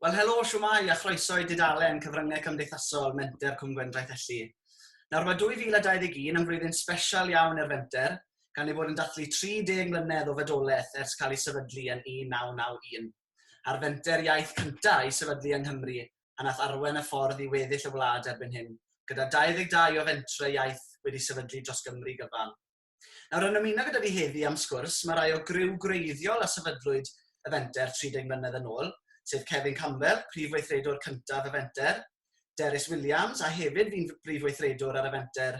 Wel, helo, siwmai a chroeso i dudalen Cyfryngau Cymdeithasol Menter Cwm Gwendraeth Elli. Nawr mae 2021 yn flwyddyn special iawn i'r fenter, gan ei bod yn dathlu 30 mlynedd o fedolaeth ers cael ei sefydlu yn 1991, a'r fenter iaith cyntaf i sefydlu yng Nghymru a nath arwain y ffordd i weddill y wlad erbyn hyn, gyda 22 o fentre iaith wedi sefydlu dros Gymru gyfan. Nawr, yn ymuno gyda fi heddi am sgwrs, mae rhai o griw gwreiddiol a sefydlwyd y fenter 30 mlynedd yn ôl, sef Kevin Campbell, prif weithredwr cyntaf y fenter, Derys Williams, a hefyd fi'n brif weithredwr ar y fenter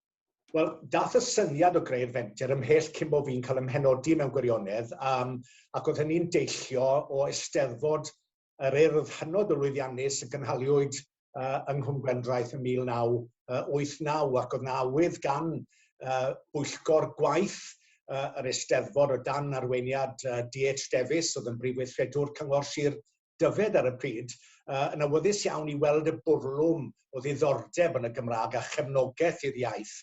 Wel, dath y syniad o greu'r fenter ymhell cyn bo fi'n cael ymhenodi mewn gwirionedd, um, ac oedd hynny'n deillio o eisteddfod yr urdd hynod o lwyddiannus y gynhaliwyd uh, yng Nghwm Gwendraeth yn 1989, ac oedd na awydd gan uh, bwyllgor gwaith uh, yr eisteddfod o dan arweiniad uh, DH Davies, oedd yn brif weithredwr Cyngor Sir Dyfed ar y pryd, uh, yn awyddus iawn i weld y bwrlwm o ddiddordeb yn y Gymraeg a chefnogaeth i'r iaith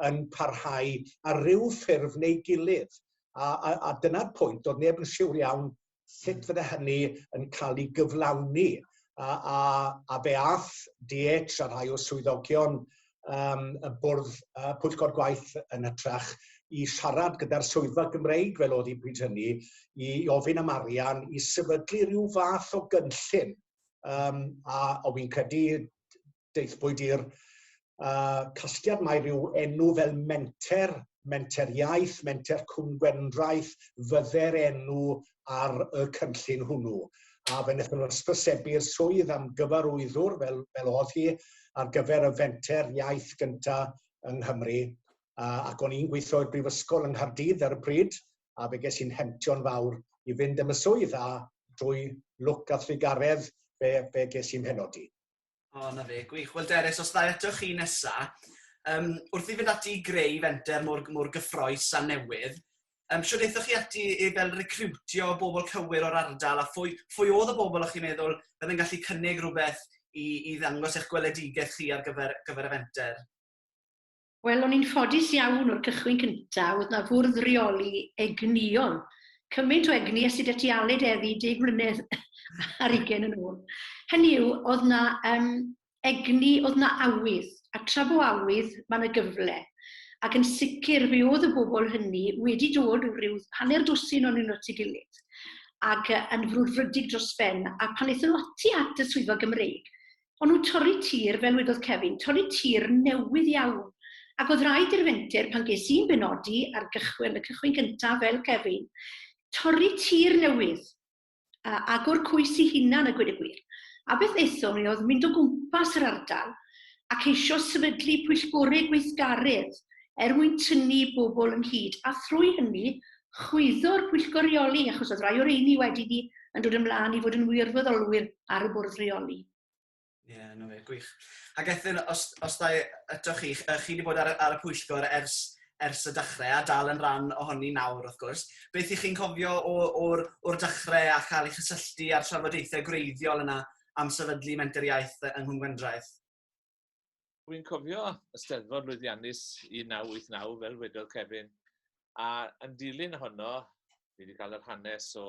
yn parhau ar ryw ffurf neu gilydd. A, a, a dyna'r pwynt, doedd neb yn siwr iawn sut fydde hynny yn cael ei gyflawni. A, a, a fe ath DH a rhai o swyddogion yym y bwrdd yy pwyllgor gwaith yn hytrach i siarad gyda'r swyddfa Gymreig fel oedd hi pryd hynny i ofyn am arian i sefydlu rhyw fath o gynllun um, a o fi'n credu deithbwyd i'r uh, casgliad mae rhyw enw fel menter Menter Iaith, Menter Cwm Gwendraeth, fydde'r enw ar y cynllun hwnnw. A fe wnaethon nhw ysbrysebu'r swydd am gyfarwyddwr fel, fel oedd hi ar gyfer y fenter iaith gyntaf yng Nghymru. A, ac o'n i'n gweithio i'r Brifysgol yng Nghaerdydd ar y pryd, a fe ges i'n hemptio'n fawr i fynd am y swydd, a drwy lwc a thrigaredd fe, fe ges i'n penodi. O, na fe, gwych. Wel, Derys, os dda eto chi nesa, um, wrth i fynd ati i greu fenter mor, mor gyffroes a newydd, um, siwr eithoch chi ati i fel recrwtio bobl cywir o'r ardal a phwy, phwy oedd y bobl o'ch chi'n meddwl oedd yn gallu cynnig rhywbeth i, i ddangos eich gweledigaeth chi ar gyfer, gyfer y fenter? Wel, o'n i'n ffodus iawn o'r cychwyn cynta, oedd na fwrdd reoli egnïol. Cymaint o egni a sydd ati aled eddi 10 mlynedd ar ugen yn ôl. Hynny yw, oedd na um, egni, oedd na awydd, a tra bo awydd, mae yna gyfle. Ac yn sicr, fe oedd y bobl hynny wedi dod o ryw hanner dwsin o'n nhw'n at ei gilydd, ac yn frwdfrydig dros ben, a pan eithon nhw ati at y swyddfa Gymreig, O'n nhw'n torri tir, fel wedodd Kevin, torri tir newydd iawn. Ac oedd rhaid i'r fenter, pan ges i'n benodi ar gychwyn, y cychwyn gyntaf, fel Kevin, torri tir newydd, a agor coes i hunan a gweud y gwir. A beth aethon ni oedd mynd o gwmpas yr ardal a ceisio sefydlu pwyllgorau gweithgaredd er mwyn tynnu bobl ynghyd, a thrwy hynny chwyddwr pwyllgor reoli, achos oedd rai o'r eini wedi ni yn dod ymlaen i fod yn wirfoddolwyr ar y bwrdd reoli. Ie, yeah, no fe, gwych. Ac Ethel, os, os da eto chi, chi wedi bod ar, ar y pwyllgor ers, ers y dechrau a dal yn rhan ohoni nawr, wrth gwrs. Beth ych chi'n cofio o'r, or dechrau a cael ei chysylltu â'r trafodaethau gwreiddiol yna am sefydlu Menter Iaith yng Nghwm Gwendraeth? Dwi'n cofio y Steddfod lwyddiannus 1989, fel wedodd Kevin, a yn dilyn honno, ni wedi cael yr hanes o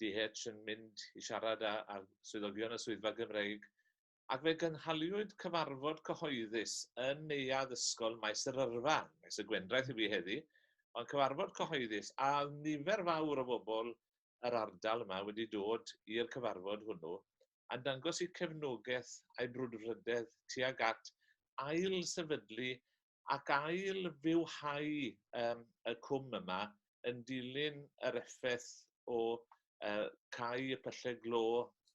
DH yn mynd i siarad â, â swyddogion y Swyddfa Gymreig, ac fe gynhaliwyd cyfarfod cyhoeddus yn Neuadd Ysgol Maes yr Yrfa, Maes y Gwendraeth i fi heddi, ond cyfarfod cyhoeddus, a oedd nifer fawr o bobl yr ardal yma wedi dod i'r cyfarfod hwnnw a dangos eu cefnogaeth a'u brwdfrydedd tuag at ail-sefydlu ac ail-fywhau um, y cwm yma yn dilyn yr effaith o uh, cau y pyllau glo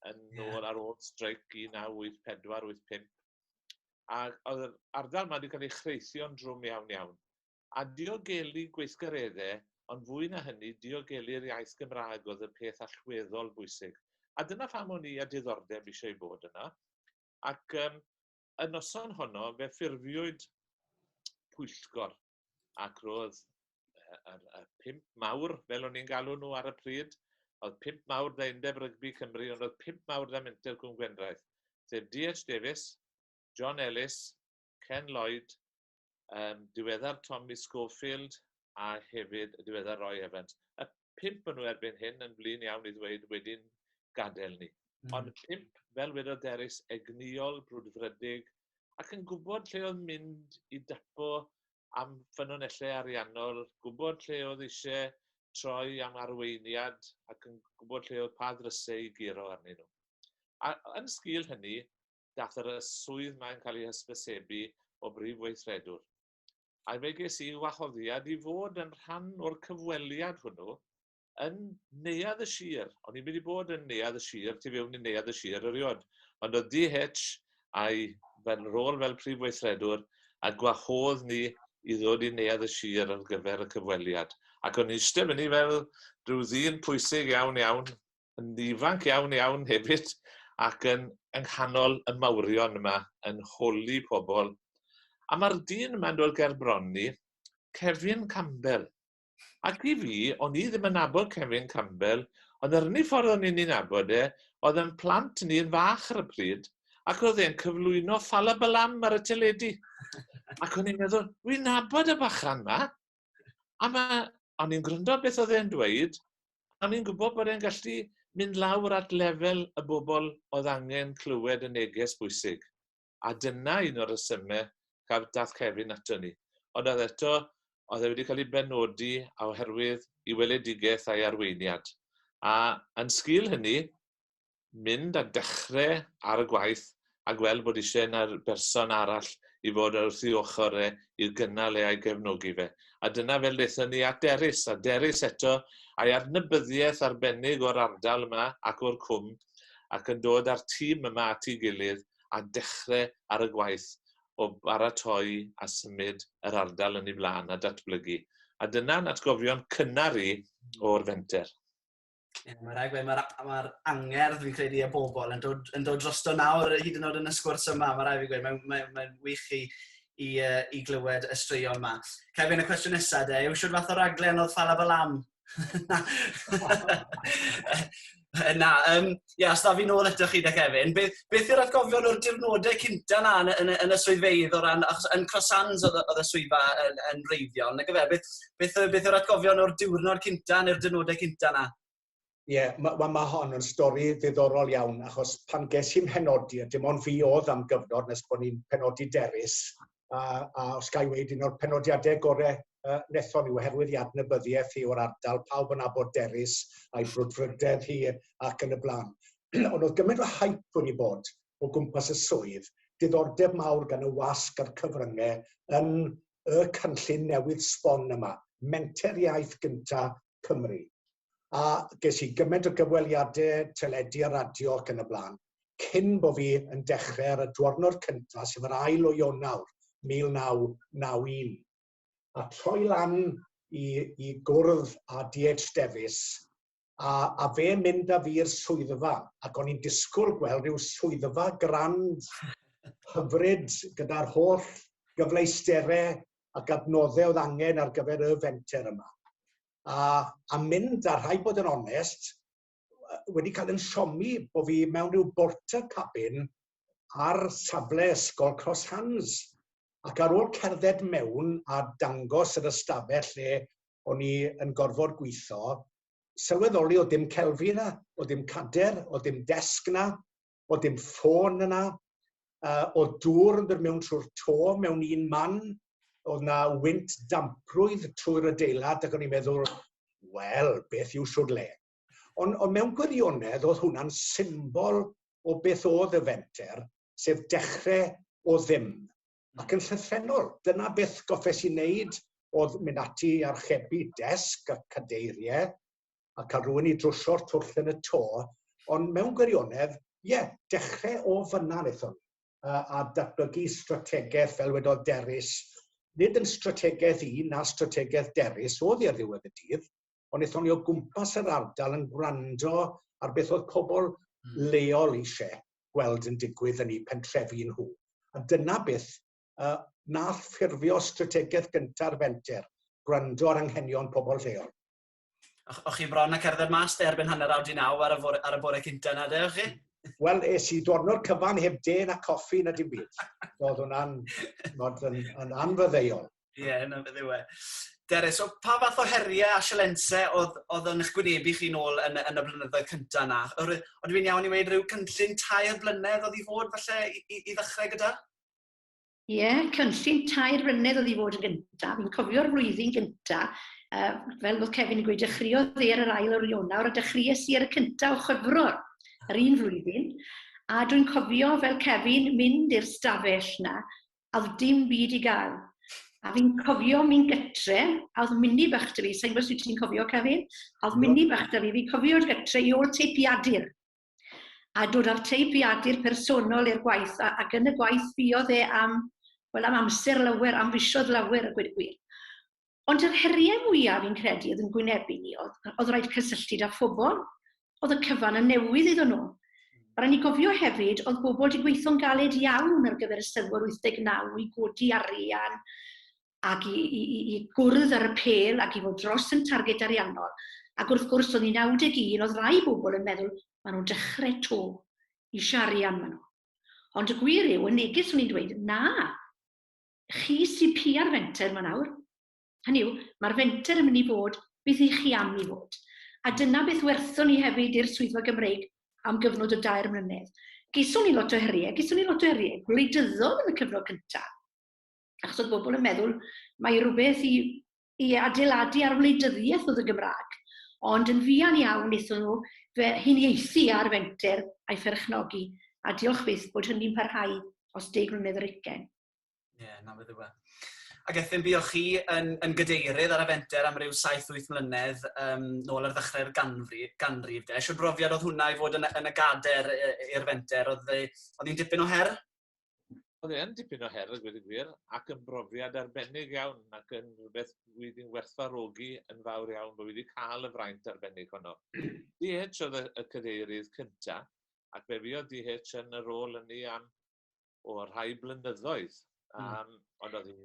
yn yeah. ôl ar ôl streic 1984-85. A oedd yr ardal yma wedi cael ei chreithio'n drwm iawn iawn. a diogelu gweithgareddau, ond fwy na hynny, diogelu'r iaith Gymraeg oedd y peth allweddol bwysig. A dyna pham o'n i â diddordeb eisiau bod yna. Ac um, y noson honno, fe ffurfiwyd pwyllgor, ac roedd y, y pimp mawr, fel o'n i'n galw nhw ar y pryd, oedd pimp mawr da Undeb Rygbi Cymru, ond oedd pimp mawr da Menter Cwm Gwendraeth, sef D.H. Davies, John Ellis, Ken Lloyd, um, diweddar Tommy Schofield a hefyd y diweddar Roy Evans. Y pimp yn nhw erbyn hyn yn flin iawn i ddweud wedi'n gadael ni. Mm. Ond pimp, fel wedodd Derys, egnïol, brwdfrydig, ac yn gwybod lle oedd mynd i dapo am ffynonellau ariannol, gwybod lle oedd eisiau troi am arweiniad ac yn gwybod lle oedd pa ddrysau i guro arnyn nhw. A yn sgil hynny, daeth yr y swydd mae'n cael ei hysbysebu o Brif Weithredwr. Ai fe ges i wahoddiad i fod yn rhan o'r cyfweliad hwnnw yn neuadd y sir. O'n i'n mynd i bod yn neuadd y sir, tu fewn i neuadd y sir erioed. Ond oedd DH a'i fel, rôl fel prif weithredwr a gwahodd ni i ddod i neuadd y sir ar gyfer y cyfweliad. Ac o'n i'n eistedd fyny fel rhyw ddyn pwysig iawn iawn yn ifanc iawn iawn hefyd ac yn yng nghanol y mawrion yma yn holi pobl. A mae'r dyn yma'n dod ger bron ni, Kevin Campbell. Ac i fi, o'n i ddim yn nabod Kevin Campbell, ond yr unig ffordd o'n i'n ei nabod e, oedd yn plant ni yn fach ar y pryd, ac oedd e'n cyflwyno Falabalam ar y teledu. Ac o'n i'n meddwl, wi'n nabod y bachan ma, A mae... o'n i'n gwrando beth oedd e'n dweud, a o'n i'n gwybod bod e'n gallu mynd lawr at lefel y bobl oedd angen clywed y neges bwysig. A dyna un o'r rhesymau gaf dath Kevin ato ni. Ond oedd eto, oedd e wedi cael ei benodi oherwydd i weledigaeth a'i arweiniad. A yn sgil hynny, mynd a dechre ar y gwaith a gweld bod isie 'na'r berson arall i fod wrth ei ochr e i'w gynnal e a'i gefnogi fe. A dyna fel daethon ni at Derys, a Derys eto, a'i adnabyddiaeth arbennig o'r ardal yma ac o'r cwm, ac yn dod â'r tîm yma at ei gilydd a dechre ar y gwaith o baratoi a symud yr ardal yn ei flaen a datblygu. A dyna'n atgofion cynnar i o'r fenter. Mae rhaid gweud, mae'r ma angerdd fi'n credu y bobl yn dod, yn dod drosto nawr hyd yn oed yn y sgwrs yma. Mae rhaid fi'n gweud, mae'n mae, mae wych i, i, uh, i glywed y straeon yma. Cael fynd y cwestiwn nesaf de, yw siwr fath o raglen oedd Fala Balam? na, um, Ie, os da fi nôl eto chi da Kevin. Be, beth yw'r atgofion o'r dirnodau cynta na yn, yn, yn y swyddfeydd o ran, achos yn Croissants oedd, oedd y swyddfa yn, yn reiddiol, nag efe, beth, beth, beth yw'r atgofion o'r diwrnod cynta neu'r dirnodau cynta na? Ie, yeah, mae ma, ma hon yn stori ddiddorol iawn, achos pan ges i'n penodi, a dim ond fi oedd am gyfnod nes bod ni'n penodi derus, a, a os gael ei wneud un o'r penodiadau gorau uh, nethon nhw oherwydd i adnabyddiaeth hi o'r ardal, pawb yn abod derus a'i brwdfrydedd hi ac yn y blaen. Ond oedd gymaint o hype wedi bod o gwmpas y swydd, diddordeb mawr gan y wasg a'r cyfryngau yn y cynllun newydd sbon yma, menter iaith gynta Cymru. A ges i gymaint o gyfweliadau teledu a radio ac yn y blaen, cyn bo fi yn dechrau ar y dwrnod cyntaf, sef yr ail o Ionawr 1991. a troi lan i, i gwrdd â DH Davies, a, a fe mynd â fi i'r swyddfa, ac o'n i'n disgwyl gweld rhyw swyddfa grand hyfryd gyda'r holl gyfleusterau ac adnoddau oedd angen ar gyfer y fenter yma. A, a mynd, a rhaid bod yn onest, yy wedi cael yn siomi bo' fi mewn ryw borta cabin ar safle ysgol Cross Hands ac ar ôl cerdded mewn a dangos yr ystafell lle o'n i yn gorfod gweithio, sylweddoli o' dim celfi 'na, o' dim cader, o' dim desg 'na, o dim ffôn yna, uh, o dŵr yn dod mewn trwy'r to mewn un man, oedd na wynt damprwydd trwy'r adeilad ac o'n i'n meddwl, wel, beth yw siwr le? Ond, on mewn gwirionedd, oedd hwnna'n symbol o beth oedd y fenter, sef dechrau o ddim. Ac yn llythrenol, dyna beth goffes i wneud oedd mynd ati archebu desg a cadeiriau, a ca'l rhywun i drwsio'r twll yn y to, ond mewn gwirionedd, ie, dechre o fynna nethon ni, a, a datblygu strategeth, fel wedodd Derys, nid yn strategeth i na strategeth Derys oedd i ar ddiwedd y dydd, ond nethon ni o gwmpas yr ardal yn gwrando ar beth oedd pobl hmm. leol eisiau gweld yn digwydd yn eu pentrefi nhw. A dyna beth uh, nath ffurfio strategaeth gyntaf fenter, gwrando ar anghenion pobl lleol. O'ch, o'ch chi bron a cerdded mas de erbyn hanner awr di naw ar y bore, ar y bore cynta na de, o'ch chi? Wel, es i dwrnod cyfan heb de na coffi na dim byd. Oedd hwnna'n yn, yn anfyddeuol. Ie, yeah, hwnna'n fyddew e. Dere, so pa fath o heriau a sialense oedd, oedd yn eich gwynebu chi nôl yn, yn y blynyddoedd cyntaf yna? Ond fi'n iawn i wneud rhyw cynllun tair blynedd oedd i fod falle i, i, i ddechrau gyda? Ie, yeah, cynllun tair flynedd oedd i fod yn gyntaf. Fi'n cofio'r flwyddyn gyntaf, uh, fel oedd Kevin yn gweud, dechreuodd e ar yr ail o'r Ionawr a dechreuais i ar y cyntaf o chyfrwr yr un flwyddyn. A dwi'n cofio fel Kevin mynd i'r stafell na, a oedd dim byd i gael. A fi'n cofio mi'n gytre, a oedd mini bach da fi, sa'n gwybod sut ti'n cofio Kevin, a oedd mini bach da fi, fi'n cofio'r gytre i ôl teipiadur. A dod â'r teipiadur personol i'r gwaith, a, ac yn y gwaith fuodd e am, wel am amser lawer, am fisoedd lawer a gweud y gwir. Ond yr heriau mwyaf fi'n credu oedd yn gwynebu ni oedd, oedd rhaid cysylltu â phobl, oedd y cyfan yn newydd iddyn nhw. A rhaid ni gofio hefyd, oedd bobl wedi gweithio'n galed iawn ar gyfer y Steddfod 89 i godi arian, ac i, i, i, i gwrdd ar y pel ac i fod dros yn targed ariannol. Ac wrth gwrs, o'n i'n 91, oedd rai bobl yn meddwl, maen nhw'n dechrau to, i siarian maen nhw. Ond y gwir yw, yn neges o'n i'n dweud, na, chi sy'n pia'r fenter maen awr. Hynny yw, mae'r fenter yn mynd i fod beth i chi am i fod. A dyna beth werthon ni hefyd i'r swyddfa Gymreig am gyfnod o dair mlynedd. Geiswn ni lot o heriau, geiswn ni lot o heriau gwleidyddol yn y cyfnod cyntaf. achos oedd bobl yn meddwl mae rhywbeth i, i adeiladu ar wleidyddiaeth oedd y Gymraeg, ond yn fuan iawn wnaethon nhw fe huniaethu ar fenter a'i pherchnogi, a diolch byth bod hynny'n parhau os deg mlynedd yr ugen. Ie, yeah, na fe ddiwa. Ac Ethyn, buoch chi yn, yn gadeirydd ar y fenter am ryw 7-8 mlynedd um, nôl ar ddechrau'r ganrif, ganrif de. Siwr brofiad oedd hwnna i fod yn, yn y gader i'r fenter, oedd hi'n dipyn o her? Oedd e'n dipyn o her, a gweud y gwir, ac yn brofiad arbennig iawn, ac yn rhywbeth wyf i'n werthfarogi yn fawr iawn, bod fi wedi cael y fraint arbennig honno. DH oedd y, y cadeirydd cynta, ac fe fi oedd DH yn y rôl ynni am o rhai blynyddoedd. Um, mm. Ond oedd hi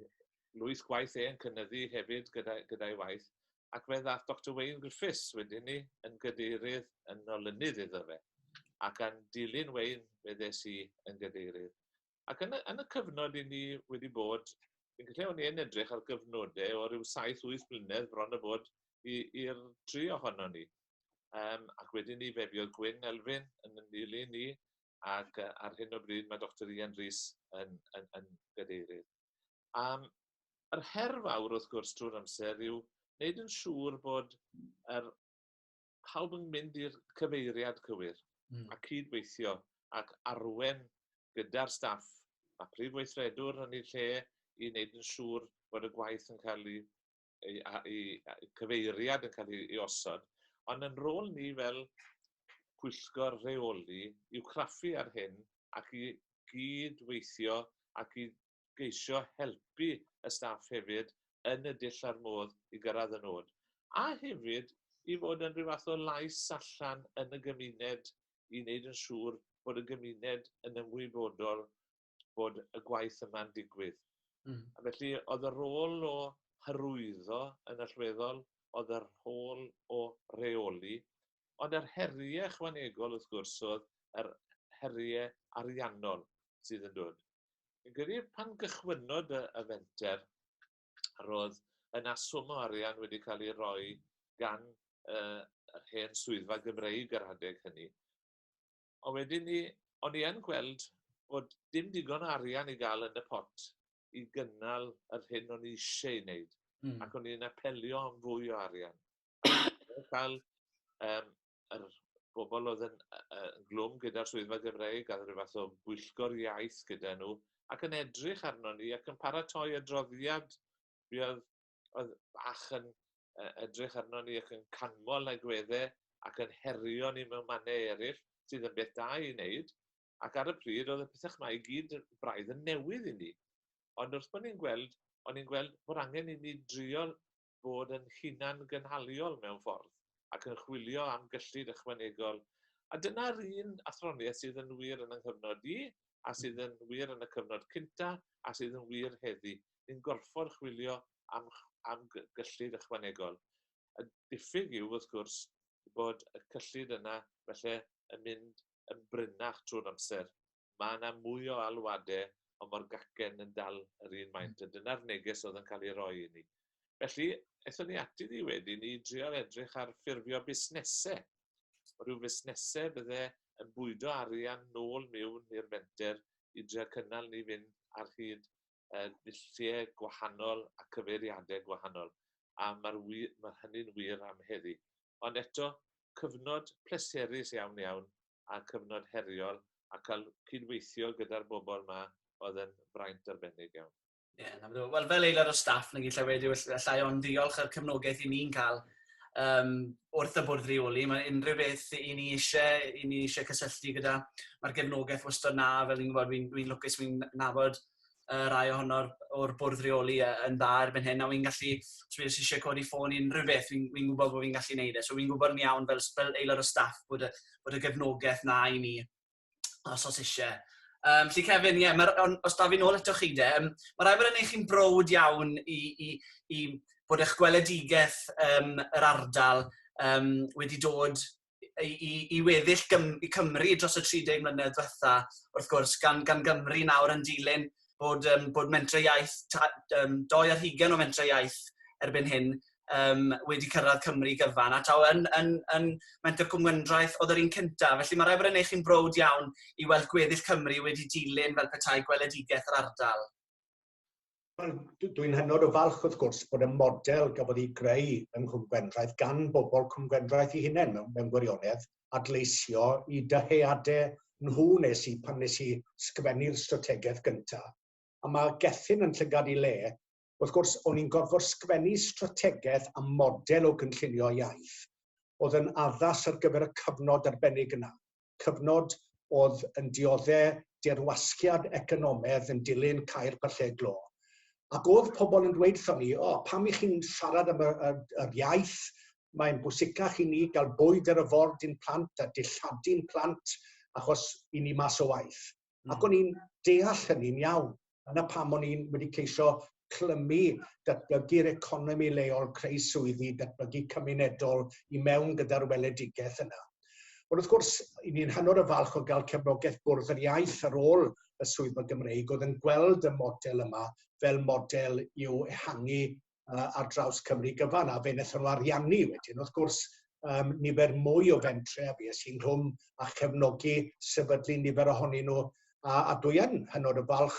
lwyth gwaith e'n cynnyddu hefyd gyda'i gyda waith. ac fe ddaeth Doctor Wayne Griffiths wedyn ni yn gydeirydd yn olynydd iddo fe. Ac yn dilyn Wayne, fe ddes i yn gydeirydd. Ac yn y, yn y cyfnod i ni wedi bod, fi'n credu o'n i'n edrych ar gyfnodau o ryw 7-8 blynedd bron y bod i'r tri ohono ni. Um, ac wedyn ni fe fuodd Gwyn Elfyn yn yn dilyn ni ac uh, ar hyn o bryd mae Dr Ian Rhys yn, yn, yn gadeirydd. Yym yr her fawr wrth gwrs trwy'r amser yw neud yn siŵr bod yr pawb yn mynd i'r cyfeiriad cywir... Hmm. ...a cyd-weithio ac arwen gyda'r staff a phrif weithredwr yn ei lle i neud yn siŵr bod y gwaith yn ca'l 'i ei, ei, ei cyfeiriad yn cael ei osod, ond yn rôl ni fel pwyllgor rheoli i'w craffu ar hyn ac i gyd-weithio ac i geisio helpu y staff hefyd yn y dull a'r modd i gyrraedd y nod. A hefyd i fod yn rhyw fath o lais allan yn y gymuned i wneud yn siŵr bod y gymuned yn ymwybodol bod y gwaith yma'n digwydd. Mm. A felly oedd y rôl o hyrwyddo yn allweddol, oedd y rôl o reoli, ond yr heriau ychwanegol wrth gwrs oedd yr heriau ariannol sydd yn dod. Yn credu pan gychwynnodd y, y fenter, roedd yna swm o arian wedi cael ei roi gan uh, yr hen swyddfa Gymreig yr adeg hynny, Ond wedyn ni, o'n i yn gweld bod dim digon o arian i gael yn y pot i gynnal yr hyn o'n i eisiau ei wneud. Mm. Ac o'n i'n apelio am fwy o arian. cael um, yr bobl oedd yn, uh, glwm gyda'r swyddfa Gymreig a rhyw fath o bwyllgor iaith gyda nhw ac yn edrych arno ni ac yn paratoi adroddiad fi oedd oedd bach yn uh, edrych arno ni ac yn canmol agwedde ac yn herio ni mewn mannau eraill, sydd yn beth da i wneud, ac ar y pryd oedd y pethau mae i gyd braidd yn newydd i ni. Ond wrth bod ni'n gweld, o'n i'n gweld bod angen i ni drio bod yn hunan gynhaliol mewn ffordd ac yn chwilio am gyllid ychwanegol. A dyna'r un athroniaeth sydd yn wir yn yng nghyfnod i, a sydd yn wir yn y cyfnod cynta, a sydd yn wir heddi. yn gorfod chwilio am am gyllid ychwanegol. Y diffyg yw, wrth gwrs, bod y cyllid yna felly yn mynd yn brinach trwy'r amser. Mae yna mwy o alwadau, ond mae'r gacen yn dal yr un maint, a dyna'r neges oedd yn cael ei roi i ni. Felly, aethon ni ati ni wedyn i drio edrych ar ffurfio busnesau, rhyw fusnesau bydde yn bwydo arian nôl miwn i'r fenter i drio cynnal ni fynd ar hyd yn ddulliau gwahanol a cyfeiriadau gwahanol, a mae'r wir, mae hynny'n wir am heddi. Ond eto, cyfnod pleserus iawn iawn, a cyfnod heriol, a cael cydweithio gyda'r bobl yma oedd yn fraint arbennig iawn. Ie, yeah, na, wel, fel aelod o staff, nag i'n lle wedi llai ond diolch ar cefnogaeth i ni'n cael um, wrth y bwrdd rheoli. Mae unrhyw beth i ni eisiau, i ni eisiau cysylltu gyda, mae'r gefnogaeth wastad na, fel ni'n gwybod, fi'n fi lwcus, fi'n nabod uh, rai ohono'r o'r bwrdd rheoli yn dda erbyn hyn, a fi'n gallu, os fi'n eisiau codi ffôn i unrhyw beth, fi'n fi gwybod bod fi'n gallu gwneud e. So fi'n gwybod yn iawn fel, fel aelod o staff bod y, bod y gefnogaeth na i ni os os eisiau. Um, felly Kevin, ie, yeah, os da fi'n ôl eto chi de, um, mae rai bod yn eich chi'n brod iawn i, i, i bod eich gweledigaeth um, yr ardal um, wedi dod i, i, i weddill gym, i Cymru dros y 30 mlynedd diwetha, wrth gwrs, gan, gan Gymru nawr yn dilyn bod, um, bod mentrau iaith, um, doi ar hugen o mentrau iaith erbyn hyn um, wedi cyrraedd Cymru gyfan, a taw yn, yn, yn menter cwmgyndraeth oedd yr un cyntaf. Felly mae rai bod yn eich chi'n brod iawn i weld gweddill Cymru wedi dilyn fel petai gweledigaeth yr ardal. Dwi'n hynod o falch wrth gwrs bod y model gafodd ei greu yng Nghwmgwendraeth gan bobl Cwmgwendraeth i hunain mewn, mewn gwirionedd, adleisio i dyheadau nhw nes i pan nes i sgwennu'r strategaeth gynta. A mae Gethin yn llygad i le. Wrth gwrs, o'n i'n gorfod sgwennu strategaeth a model o gynllunio iaith oedd yn addas ar gyfer y cyfnod arbennig yna, cyfnod oedd yn diodde dirwasgiad economedd yn dilyn cau'r pyllau glo. Ac oedd pobl yn dweud wrthon ni, o, pam i chi'n siarad am yr, yr, yr iaith, mae'n bwysicach i ni gael bwyd ar y ford i'n plant a dilladi'n plant achos i ni mas o waith. Mm. Ac o'n i'n deall hynny'n iawn. Yna pam o'n i'n wedi ceisio clymu datblygu'r economi leol, creu swyddi, datblygu cymunedol i mewn gyda'r weledigaeth yna. Ond wrth gwrs, i ni'n hynod o falch o gael cefnogaeth bwrdd yr iaith ar ôl y swyddfa Gymreig oedd yn gweld y model yma fel model i'w ehangu yy ar draws Cymru gyfan a fe'n ethol ariannu wedyn wrth gwrs yym nifer mwy o fentre a fues i'n rhwng a chefnogi sefydlu nifer ohonyn nhw a a dwi yn hynod o falch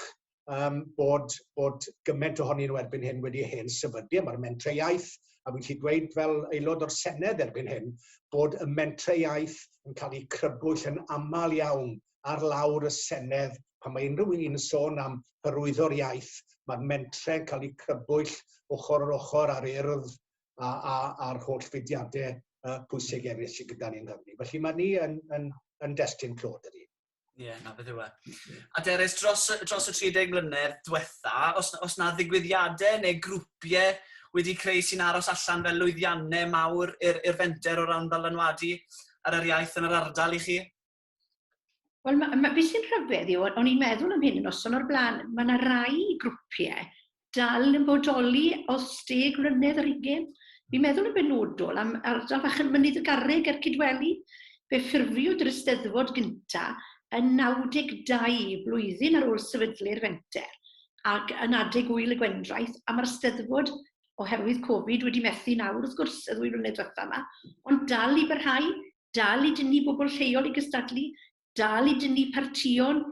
yym bod bod gyment ohonyn nhw erbyn hyn wedi hen sefydlu a ma'r mentre iaith a fi'n gallu dweud fel aelod o'r Senedd erbyn hyn bod y mentre iaith yn cael eu crybwyll yn aml iawn ar lawr y Senedd pan mae unrhyw un yn sôn am hyrwyddo'r iaith, mae'r mentre'n cael eu crybwyll ochr ar ochr ar urdd a, a, a'r holl fudiadau uh, pwysig eraill sydd gyda ni yng Nghymru. Felly mae ni yn, yn, yn destun clod ydy. Ie, yeah, na beth yw e. A Deres, dros, dros y 30 mlynedd diwetha, os, os na ddigwyddiadau neu grwpiau wedi creu sy'n aros allan fel lwyddiannau mawr i'r fenter o ran ddylanwadu ar yr iaith yn yr ardal i chi? Wel, ma, ma, beth sy'n rhyfedd yw, o'n i'n meddwl am hyn yn noson o'r blaen, mae yna rai grwpiau dal yn bodoli os deg mlynedd ar ugen. Fi'n meddwl yn benodol am ardal fach yn mynydd y garreg a'r cydweli, fe ffurfiwyd yr ysteddfod gynta yn 92 blwyddyn ar ôl sefydlu'r fenter ac yn adeg wyl y gwendraeth a mae'r steddfod oherwydd Covid wedi methu nawr wrth gwrs y ddwy flynedd diwetha yma, ond dal i barhau dal i dynnu bobl lleol i gystadlu, dal i dynnu partïon,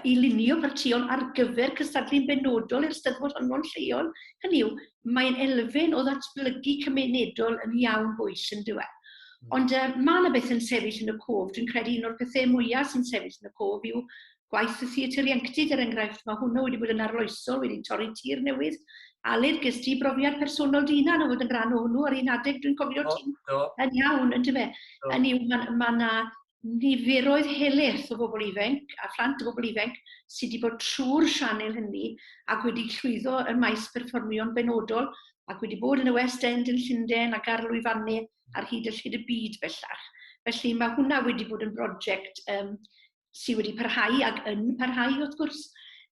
i lunio partïon ar gyfer cystadlu'n benodol i'r Steddfod honno'n lleol. Hynny yw, mae'n elfen o ddatblygu cymunedol yn iawn bwys yn dywe. Hmm. Ond uh, mae yna beth yn sefyll yn y cof. Dwi'n credu un o'r pethau mwyaf sy'n sefyll yn y cof yw gwaith y theatr ieuenctid er enghraifft, mae hwnnw wedi bod yn arloesol, wedi torri tir newydd. Aled, ges di brofiad personol dy hunan o fod yn rhan o hwnnw ar un adeg, dwi'n cofio ti yn iawn, yn dyfe. Yn yw, mae ma yna niferoedd heleth o bobl ifanc a phlant o bobl ifanc sydd wedi bod trwy'r sianel hynny ac wedi llwyddo ym maes perfformio'n benodol ac wedi bod yn y West End yn Llundain ac ar lwyfannau ar hyd y llyd y byd bellach. Felly mae hwnna wedi bod yn brosiect um, sydd wedi parhau ac yn parhau wrth gwrs.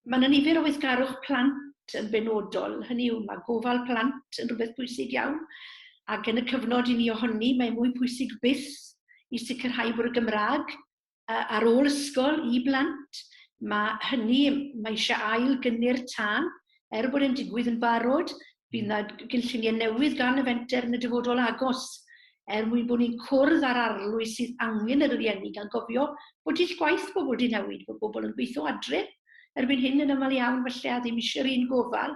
Mae yna nifer o weithgarwch plant yn benodol, hynny yw mae gofal plant yn rhywbeth pwysig iawn ac yn y cyfnod i ni ohoni mae mwy pwysig byth i sicrhau bod y Gymraeg ar ôl ysgol i blant. Mae hynny, mae eisiau ail gynnyr tân er bod e'n digwydd yn barod, bydd yna gynlluniau newydd gan y fenter yn y dyfodol agos, er mwyn bod ni'n cwrdd â'r arlwy sydd angen yr rieni gan gofio bod dull gwaith pobl wedi newid, bod pobl yn gweithio adre erbyn hyn yn aml iawn felly a ddim eisiau'r un gofal,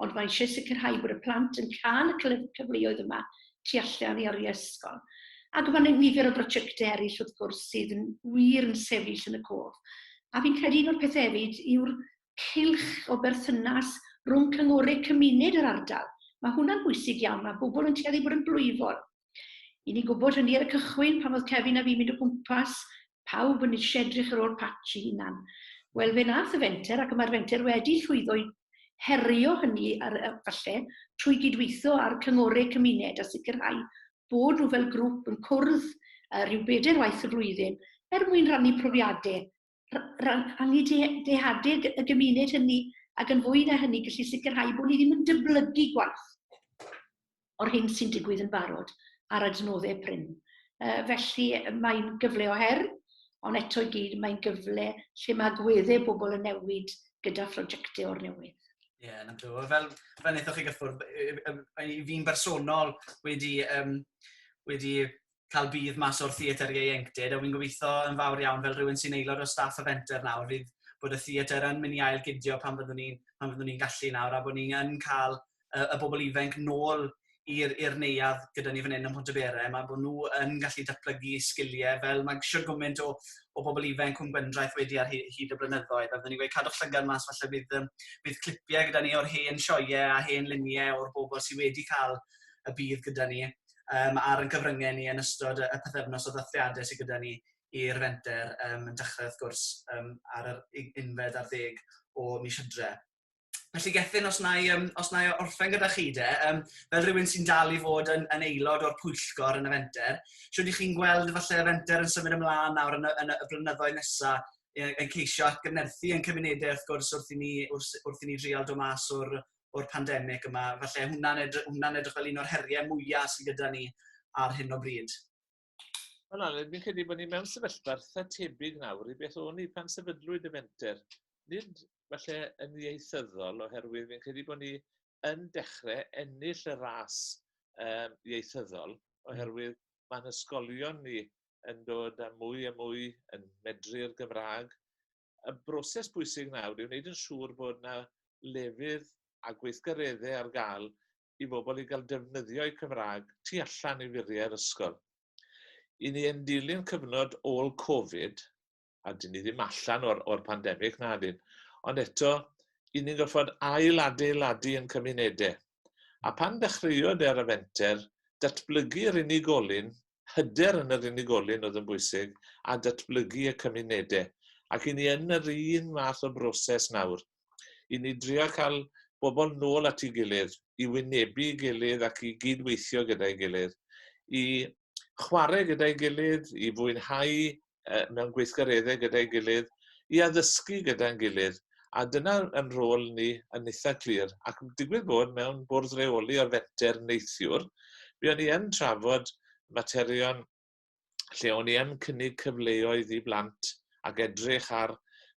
ond mae eisiau sicrhau bod y plant yn cael y cyfleoedd yma tu allan i oriau ysgol. Ac mae nifer o brosiectau eraill wrth gwrs sydd yn wir yn sefyll yn y cof. A fi'n credu un o'r pethau hefyd yw'r cylch o berthynas rhwng cynghorydd cymuned yr ardal. Mae hwnna'n bwysig iawn, mae pobl yn tueddu bod yn blwyfol. I ni gwybod hynny ar y cychwyn, pan oedd Kevin a fi'n mynd o gwmpas, pawb yn eisiau edrych ar ôl patch i hunan. Wel, fe nath y fenter, ac y mae'r fenter wedi llwyddo i herio hynny ar, falle, trwy gydweithio â'r cynghorydd cymuned a sicrhau bod nhw fel grŵp yn cwrdd rhyw bedair waith y flwyddyn er mwyn rhannu profiadau rhannu dehadeg y gymuned hynny, ac yn fwy na hynny, gallu sicrhau bod ni ddim yn dyblygu gwaith o'r hyn sy'n digwydd yn barod ar adnoddau prin. Uh, felly mae'n gyfle o her, ond eto i gyd mae'n gyfle lle mae gweddau bobl yn newid gyda phrosiectau o'r newydd. Ie, yeah, na ddo. Fel, fel wnaethoch chi gyffwrdd, i fi'n bersonol wedi, um, wedi cael budd mas o'r theatr ieuenctid, a wi'n gobeithio yn fawr iawn fel rhywun sy'n aelod o staff y fenter nawr fydd bod y theatr yn mynd i ail gydio pan fyddwn ni'n pan fyddwn ni'n gallu nawr a bod ni yn cael y, y bobl ifanc nôl i'r i'r neuadd gyda ni fan hyn ym Mhontyberem a bod nhw yn gallu datblygu sgiliau fel mae siwr gymaint o, o bobl ifanc cwm Gwendraeth wedi ar hyd, hyd y blynyddoedd a byddwn ni'n gweud cadwch llygad mas falle bydd, um, bydd clipiau gyda ni o'r hen sioiau a hen luniau o'r bobl sydd wedi cael y bydd gyda ni um, ar yn cyfryngau ni yn ystod y pethefnos o ddathliadau sydd gyda ni i'r fenter um, yn dechrau wrth gwrs um, ar yr unfed ar ddeg o mis hydre. Felly gethyn, os na i, um, os na i orffen gyda chi de, um, fel rhywun sy'n dal i fod yn, yn aelod o'r pwyllgor yn y fenter, siwyd i chi'n gweld falle y fenter yn symud ymlaen nawr yn y, yn y blynyddoedd nesaf yn ceisio atgyfnerthu yn cymunedau wrth gwrs wrth i ni, wrth, wrth i ni drial dod mas o'r, o'r pandemig yma. Felly hwnna'n edrych, hwnna edrych fel un o'r heriau mwyaf sydd gyda ni ar hyn o bryd. Wel, Aled, fi'n credu bod ni mewn sefyllfa eitha tebyg nawr i beth o'n i pan sefydlwyd y fenter. Nid falle yn ieithyddol, oherwydd fi'n credu bod ni yn dechrau ennill y ras um, ieithyddol, hmm. oherwydd mae'n ysgolion ni yn dod â mwy a mwy yn medru'r Gymraeg, y broses bwysig nawr yw wneud yn siŵr bod yna lefydd a gweithgareddau ar gael i bobl i gael defnyddio'u Cymraeg tu allan i furiau'r ysgol. I ni yn dilyn cyfnod ôl Covid, a dyn ni ddim allan o'r, or pandemig, na dyn, ond eto, i ni'n gorfod ail-adeiladu yn cymunedau. a phan ddechreuodd e ar y fenter, datblygu'r unigolyn, hyder yn yr unigolyn oedd yn bwysig, a datblygu y cymunedau. Ac i ni yn yr un math o broses nawr. I ni drio cael bobl nôl at ei gilydd, i wynebu ei gilydd ac i gyd-weithio gyda'i gilydd, i chwarae gyda'i gilydd, i fwynhau uh, mewn gweithgareddau gyda'i gilydd, i addysgu gyda'n gilydd. A dyna yn rôl ni yn eitha clir. Ac digwydd bod mewn bwrdd reoli o'r fenter neithiwr, mi o'n i yn trafod materion lle o'n i yn cynnig cyfleoedd i blant ac edrych ar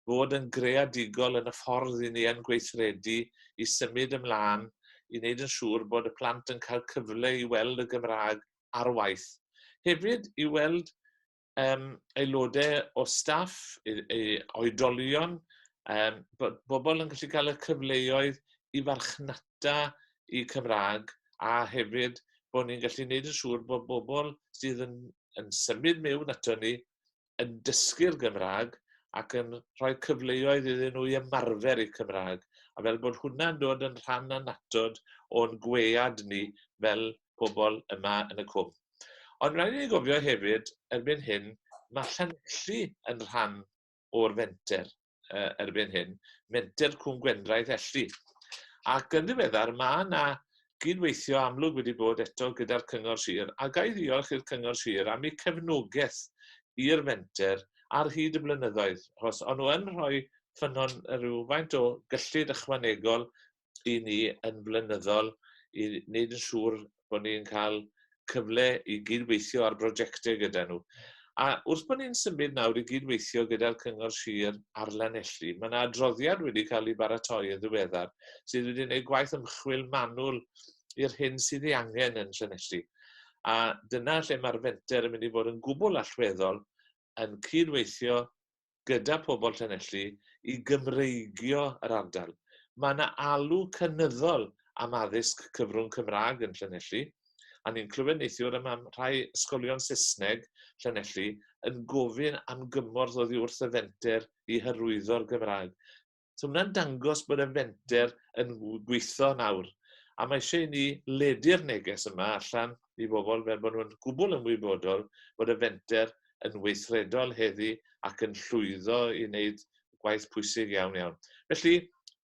fod yn greadigol yn y ffordd i ni yn gweithredu i symud ymlaen i wneud yn siŵr bod y plant yn cael cyfle i weld y Gymraeg ar waith. Hefyd i weld um, aelodau o staff, i, i oedolion, um, bod bobl yn gallu cael y cyfleoedd i farchnata i Cymraeg a hefyd bod ni'n gallu gwneud yn siŵr bod bobl sydd yn, yn symud mewn ato ni yn dysgu'r Gymraeg ac yn rhoi cyfleoedd iddyn nhw i ymarfer eu Cymraeg, a fel bod hwnna'n dod yn rhan annatod o'n gwead ni fel pobl yma yn y cwm. Ond rhaid i ni gofio hefyd, erbyn hyn, mae Llanelli yn rhan o'r fenter. uh, erbyn hyn, Menter Cwm Gwendraeth Elli. Ac yn ddiweddar, mae yna gydweithio amlwg wedi bod eto gyda'r Cyngor Sir, a gael ddiolch i'r Cyngor Sir am eu cefnogaeth i'r fenter ar hyd y blynyddoedd, achos o'n nhw yn rhoi ffynnon rhywfaint o gyllid ychwanegol i ni yn flynyddol i wneud yn siŵr bod ni'n cael cyfle i gydweithio ar brosiectau gyda nhw. A wrth bod ni'n symud nawr i gydweithio gyda'r Cyngor Sir ar Lanelli, mae yna adroddiad wedi cael ei baratoi yn ddiweddar sydd wedi gwneud gwaith ymchwil manwl i'r hyn sydd ei angen yn Llanelli. A dyna lle mae'r fenter yn mynd i fod yn gwbl allweddol yn cyd-weithio gyda phobl Llanelli i Gymreigio yr ardal. Mae yna alw cynyddol am addysg cyfrwng Cymraeg yn Llanelli, a ni'n clywed neithiwr y mae rhai ysgolion Saesneg Llanelli yn gofyn am gymorth oddi wrth y fenter i hyrwyddo'r Gymraeg. So mae'n dangos bod y fenter yn gweithio nawr. A mae eisiau ni ledu'r neges yma allan i bobl fel bod nhw'n gwbl ymwybodol bod y fenter yn weithredol heddi ac yn llwyddo i wneud gwaith pwysig iawn iawn. Felly,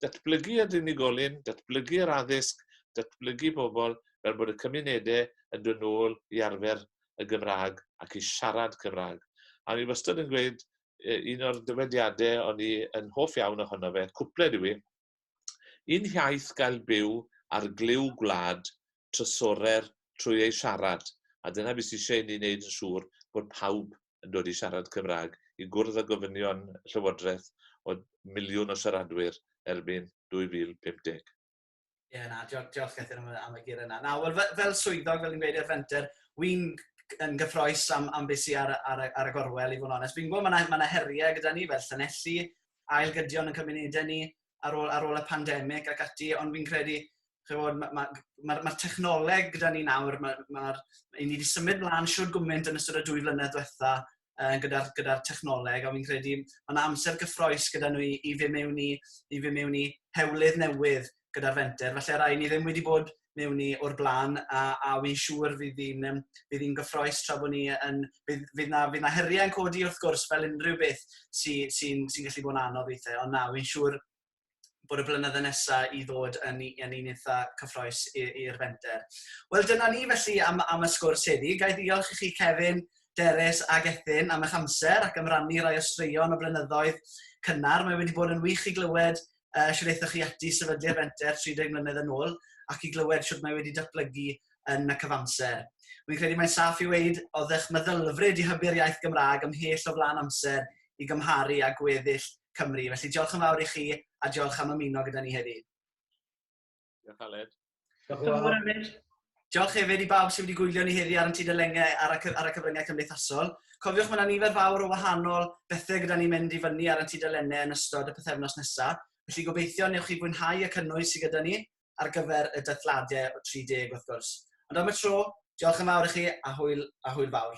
datblygu y unigolyn, datblygu yr addysg, datblygu pobl fel bod y cymunedau yn dod nôl i arfer y Gymraeg ac i siarad Cymraeg. A ni wastad yn gweud un o'r dyfediadau o'n i yn hoff iawn ohono fe, cwpled yw i, un hiaith gael byw ar glyw gwlad trysorer trwy ei siarad, a dyna beth sy'n eisiau i ni wneud yn siŵr bod pawb yn dod i siarad Cymraeg, i gwrdd â gofynion Llywodraeth o miliwn o siaradwyr erbyn 2050. Ie, yeah, na, diolch, diolch Gethin am, am y gyr yna. Na, wel, fel, fel swyddog, fel ni'n gweud i'r fenter, wy'n yn gyffroes am, am beth sy'n ar, ar, ar, y gorwel i fod yn onest. Fi'n gwybod mae yna ma heriau gyda ni fel Llanelli, ailgydion yn cymunedau ni ar ôl, ar ôl y pandemig ac ati, ond fi'n credu Mae'r ma, ma, ma, ma technoleg gyda ni nawr, mae, ma, ma, ni wedi symud mlaen siwr gwmynt yn ystod y dwy flynedd diwetha, uh, gyda'r gyda technoleg, a fi'n credu mae yna amser gyffroes gyda nhw i, i fy mewn i, i fy mewn i hewlydd newydd gyda'r fenter. Felly rai ni ddim wedi bod mewn i o'r blaen, a, a fi'n siŵr fydd hi'n um, fydd hi'n gyffroes tra bod ni yn... Fydd, fydd, na, fydd na heriau yn codi wrth gwrs fel unrhyw beth sy'n sy, sy, sy gallu bod yn anodd weithiau, ond na, fi'n siŵr bod y blynydde nesa i ddod yn yn un eitha cyffroes i'r fenter. Wel dyna ni felly am am y sgwrs heddi. Ga i ddiolch i chi Kevin, Derys ac Ethyn am eich amser ac am rannu rai o straeon o blynyddoedd cynnar. Mae wedi bod yn wych i glywed uh, sydd eithoch chi ati sefydlu'r fenter 30 mlynedd yn ôl ac i glywed sydd mae wedi datblygu yn y cyfamser. Wy'n credu mae'n saff i weid oeddech meddylfryd i hybu'r iaith Gymraeg ymhell o flaen amser i gymharu â gweddill Cymru. Felly diolch yn fawr i chi a diolch am ymuno gyda ni heddi. Diolch Aled. Diolch yn fawr Aled. Diolch hefyd i bawb sydd wedi gwylio ni heddi ar y tudalengau ar y, ar y cyfryngau cymdeithasol. Cofiwch mae yna nifer fawr o wahanol bethau gyda ni'n mynd i fyny ar y tudalennau yn ystod y pethefnos nesaf. Felly gobeithio newch chi fwynhau y cynnwys sydd gyda ni ar gyfer y dathliadau o 30 wrth gwrs. Ond am y tro, diolch yn fawr i chi a hwyl, a hwyl fawr.